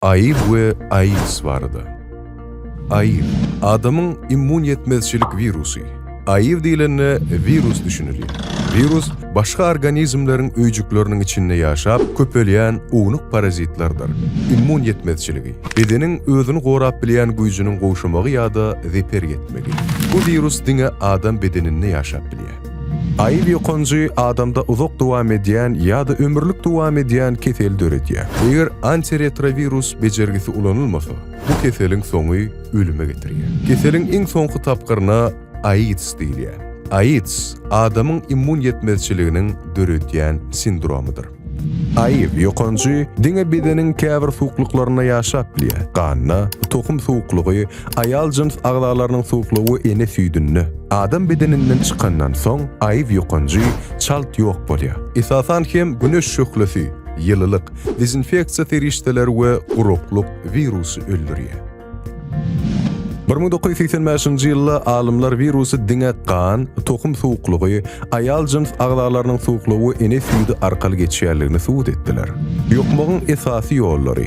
Aýyl we AIDS barada. Aýyl, adamyň immun ýetmezçilik wirusy. Aýyl diýlende wirus düşünilýär. Wirus başga organizmleriň öýjükleriniň içinde ýaşap köpelýän ownuk parazitlerdir. Immun ýetmezçiligi, bedeniň özüni gorap bilýän güýjüniň gowşamagy ýa-da zeper ýetmegi. Bu wirus diňe adam bedeninde ýaşap bilýär. Aýyl ýokanjy adamda uzak dowam edýän ýa-da ömürlik dowam edýän kesel döredýär. Eger antiretrowirus bejergisi ulanylmasa, bu keseliň soňy ölüme getirýär. Keseliň iň soňky tapgyryna AIDS diýilýär. AIDS, adamyň immun ýetmezçiliginiň döredýän sindromydyr. Aýyw ýokanjy diňe bedeniň käbir suwuklyklarynda ýaşap bilýär, ganda, tohum suwuklygy, aýal jyns agzalarynyň suwuklygy ene süýdünde. Adam bedeninden çykandan soň aýyw ýokanjy çalt ýok bolýar. Esasan hem güneş şöhlesi, ýylylyk, dezinfeksiýa serişdeleri we guraklyk wirusy öldürýär. Bir müň dokuz ýüz segsen bäşinji ýylda alymlar wirusy diňe gan, tohum suwuklygy, aýal jyns agzalarynyň suwuklygy we ene süýdi arkaly geçýändigini subut etdiler. Ýokmagyň esasy ýollary.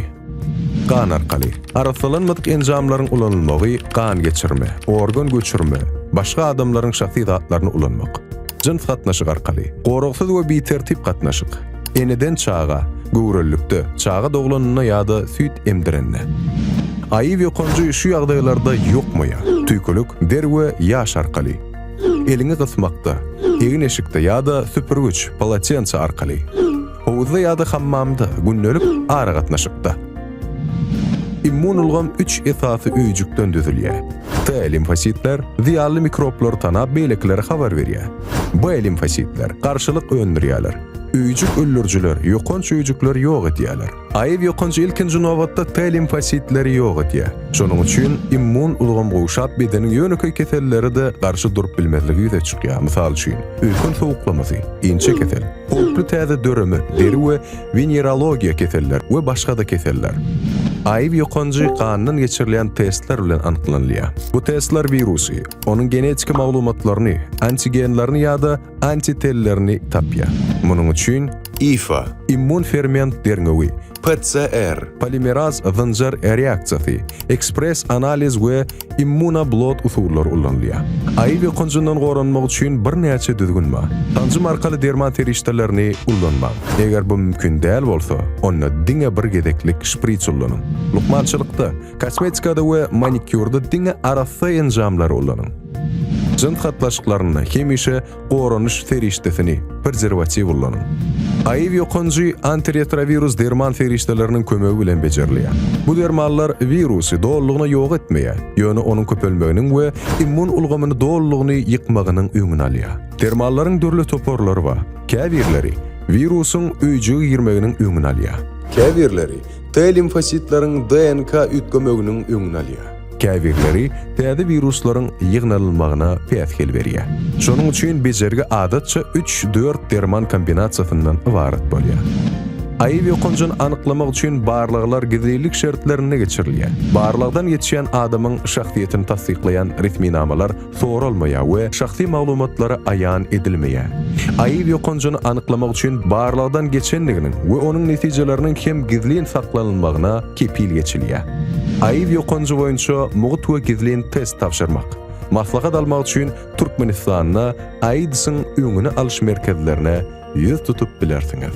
Gan arkaly. Arassalanmadyk enjamlaryň ulanylmagy, gan geçirme, organ göçürme, başga adamlaryň şahsy zatlaryny ulanmak. Jyns gatnaşyk arkaly. Goragsyz we bitertip gatnaşyk. Eneden çaga, göwrelilikde, çaga doglanynda ýa-da süýt emdirende. Aýy ýokanjy şu ýagdaýlarda ýokmaýa, tüýkülik, der we ýaş arkaly. Eliňi gysmakda, egin-eşikde ýa-da süpürgiç, polotense, arkaly. Howuzda ýa-da hammamda, gündelik aragatnaşykda. Immun ulgam üç esasy öýjükden düzülýär. T limfositler, zyýanly mikroblary tanap beýlekilere habar berýär. B limfositler, garşylyk öndürýärler. Öýjük öldürijiler ýokanç öýjükleri ýok edýärler. AIV ýokanç ilkinji nobatda T limfositleri ýok edýär. Şonuň üçin immun ulgam gowşap, bedeniň ýönekeý kesellere-de garşy durup bilmezligi ýüze çykýar, mysal üçin, öýken sowuklamasy, inçe kesel, howply täze döreme, deri we wenerologiýa keseller we başga-da keseller. AIV ýokanjy gandan geçirilýän testler bilen anyklanylýar. Bu testler wirusy, onuň genetiki maglumatlaryny, antigenlerini ýa-da antitellerini tapýar. Munuň üçin IFA, immun ferment derňewi, PCR, polimeraz zynjyr reaksiýasy, ekspress analiz we immunoblot usullary ulanylýar. AIV ýokanjyndan goranmak üçin birnäçe düzgün bar. Sanjym arkaly derman serişdelerini ulanmaň. Eger bu mümkin däl bolsa, onda diňe bir gezeklik şpris ulanyň. Lukmançylykda, Kosmetikada we manikýurda diňe arassa enjamlary ulanyň. Jyns gatnaşyklarynda hemişe goranyş serişdesini, prezerwatiw ulanyň. AIV ýokanjy antiretrowirus derman serişdeleriniň kömegi bilen bejerilýär. Bu dermanlar wirusy dolulygyna ýok etmeýär, ýöne onuň köpelmeginiň we immun ulgamyny dolulygyny ýykmagynyň öňüni alýar. Dermanlaryň dürli toparlary bar. Käbirleri wirusyň öýjüge girmeginiň öňüni alýar. Käbirleri T limfositleriň DNK üýtgemeginiň öňüni alýar. Käbirleri täze wiruslaryň ýygnalylmagyna päsgel berýär. Şonuň üçin bejergi adatça üç-dört derman kombinasiýasyndan ybarat bolýar. AIW ýokanjyny anyklamak üçin barlaglar gizlilik şertlerinde geçirilýär. Barlagdan geçýän adamyň şahsyýetini tassyklaýan resminamalar soralmaýar we şahsy maglumatlary aýan edilmeýär. Aýyw ýokanjyny anyklamak üçin barlagdan geçendiginiň we onuň netijeleriniň hem gizlin saklanylmagyna kepil geçilýär. Aýyw ýokanjy boýunça mugt we gizlin test tabşyrmak. Maslahat almak üçin Türkmenistanda AIDS-iň öňüni alyş merkezlerine ýüz tutup bilersiňiz.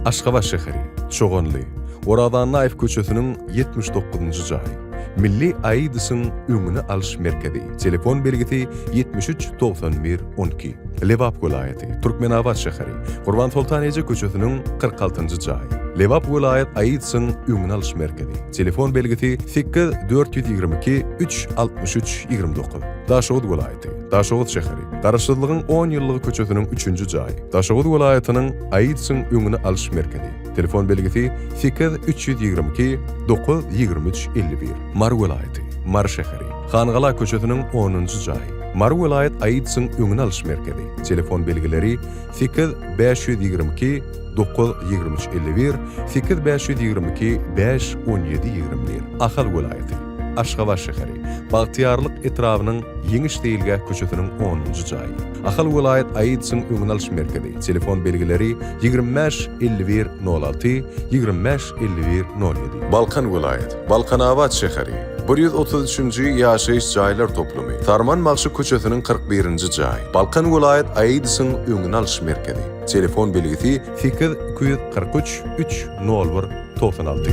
Aşgabat şäheri, Çoganly, Oraz Annaýew köçesiniň ýetmiş dokuzynjy jaý. Milli AIDS-iň öňüni alyş merkezi, telefon belgisi ýetmiş üç togsan bir on iki, Lebap welaýaty, Türkmenabat şäheri, Gurbansoltan eje köçesiniň kyrk altynjy jaý. Lebap welaýat AIDS-iň öňüni alyş merkezi, telefon belgisi sekiz dört ýüz ýigrimi iki üç altmyş üç ýigrimi dokuz, Daşoguz welaýaty. Daşoguz şäheri, Garaşsyzlygyň on ýyllygy köçesiniň üçünji jaýy, Daşoguz welaýatynyň AIDS-iň öňüni alyş merkezi, telefon belgisi, sekiz üç ýüz ýigrimi iki, dokuz ýigrimi üç, elli bir, Mary welaýaty, Mary şäheri, Hangala köçesiniň onunjy jaýy, Mary welaýat AIDS-iň öňüni alyş merkezi, telefon belgileri, sekiz bäş ýüz ýigrimi iki, dokuz ýigrimi üç, elli bir, sekiz bäş ýüz ýigrimi iki, bäş on ýedi, ýigrimi bir, Ahal welaýaty. Aşgabat şäheri, Bagtyýarlyk etrabynyň Ýeňiş seýilgäh köçesiniň onunjy jaýy. Ahal welaýat AIDS-iň öňüni alyş merkezi, telefon belgileri, ýigrimi bäş, elli bir, nol alty, ýigrimi bäş, elli bir, nol ýedi. Balkan welaýat, Balkanabat şäheri, bir ýüz otuz üçünji ýaşaýyş jaýlar toplumy, Sarman bagşy köçesiniň kyrk birinji jaýy. Balkan welaýat AIDS-iň öňüni alyş merkezi, telefon belgisi, sekiz, iki ýüz kyrk üç, üç, nol bir, togsan alty.